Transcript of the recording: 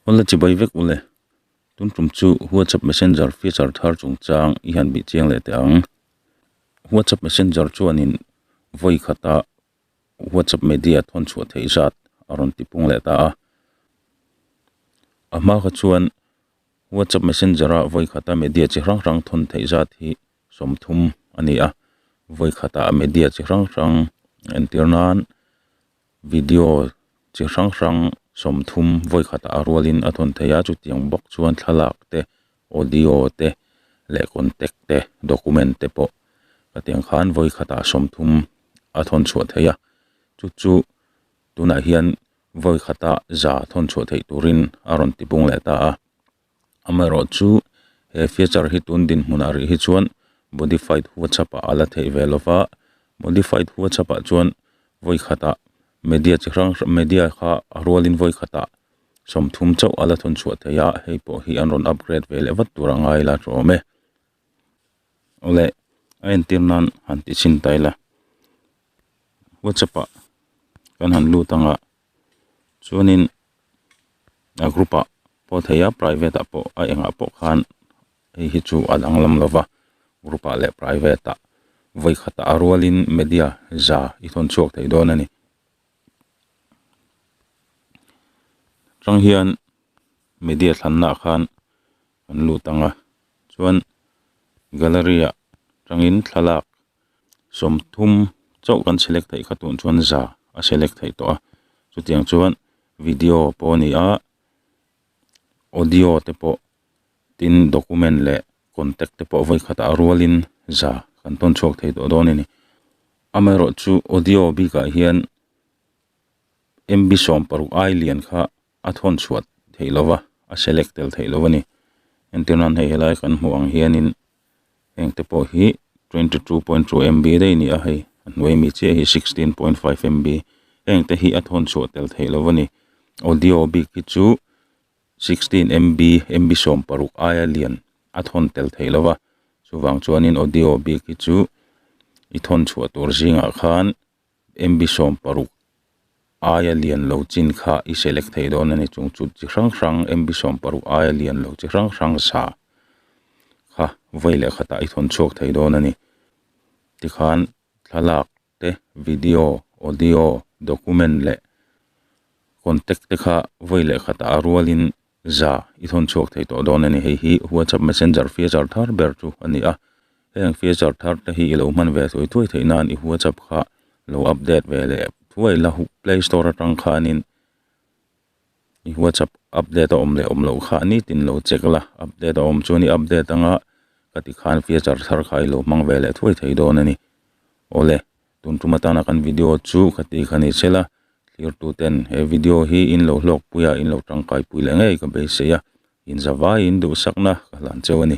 Awle chibai vek u le. Tun tum chu WhatsApp Messenger feature thar chung chang i han bih chiang leh teh ang. WhatsApp Messenger chuanin vawi khata WhatsApp media thawn chhuah theih zat a rawn ti pung leh ta a. A hma kha chuan WhatsApp Messenger a vawi khata media chi hrang hrang thawn theih zat hi sawmthum a ni a. Vawi khata media chi hrang hrang entir nan Video chi hrang hrang sawmthum vawikhatah a rualin a thawn thei a, chutiang bawk chuan thlalak te, audio te leh contact te, document te pawh ka tiang khan vawikhatah sawmthum a thawn chhuah thei a, chu chu tunah hian vawikhatah za thawn chhuah theih turin a rawn tipung leh ta a. Amaherawh chu, he feature hi tun dinhmun a rih hi chuan modified WhatsApp-ah a la theih ve lo va, modified WhatsApp-ah chuan vawikhatah media chi hrang hrang, media kha a rualin vawikhatah sawmthum chauh a la thawn chhuah thei a, hei pawh hi an rawn upgrade ve leh vat tur a ngai la tawh awm e. Awle, a entir nan han ti chhin ta ila, WhatsApp-ah kan han lut ang a, chuanin a group ah pawh thei a private ah pawh a engah pawh khan hei hi chu a danglam lo va group ah leh private ah vawi khatah a rualin media za i thawn chhuak thei dawn a ni chang hian media thlanna ah khan an lut ang a chuan gallery ah tangin thlalak. sawmthum chauh kan select theih kha tun chuan za a select theih tawh a chutiang chuan video pawh a ni a audio te pawh tin document leh contact te pawh vawikhat ah rual in za kan tawn chhuak thei tawh dawn a ni amaherawhchu audio bik ah hian MB sawm paruk ailian kha a thawn chhuat theih lo va, a select tel theih lo a ni. Entirna an hei helai kan hmuh ang hianin heng te pawh hi twenty two point two MB daih ni a hei a hnuai mi chiah hi sixteen point five MB heng te hi a thawn chhuah tel theih lo a ni. Audio bik hi chu sixteen MB MB sawm paruk aia lian a thawn tel theih lo va, chuvang chuanin audio bik hi chu i thawn chhuah tur zingah khan MB sawm paruk aia lian lo chin kha i select thei dawn a ni chung chut chi hrang hrang MB sawm paruk aia lian lo chi hrang hrang sa kha vawi leh khat ah i thawn chhuak thei dawn a ni tikhan thlalak te video audio document leh contact te kha vawi leh khat ah a rual in Za, i thawn chhuak thei tawh dawn a ni. Hei hi WhatsApp Messenger feature thar ber chu a ni a. Heng feature thar te hi i lo hman ve thuai thuai theih nan i WhatsApp kha lo update ve leh thuai la. Play Store atang khanin i WhatsApp update a awm leh awm loh kha nitin lo check la. Update a awm chuan i update anga ka ti khan feature thar kha i lo hmang ve leh thuai thei dawn a ni. Awle. Tun tum atana kan video chu ka ti kha ni chela, thlirtu ten he video hi in lo hlawk pui a, in lo tangkai pui leh ngei ka beisei a, inzavaiin duhsakna ka hlan cheu a ni.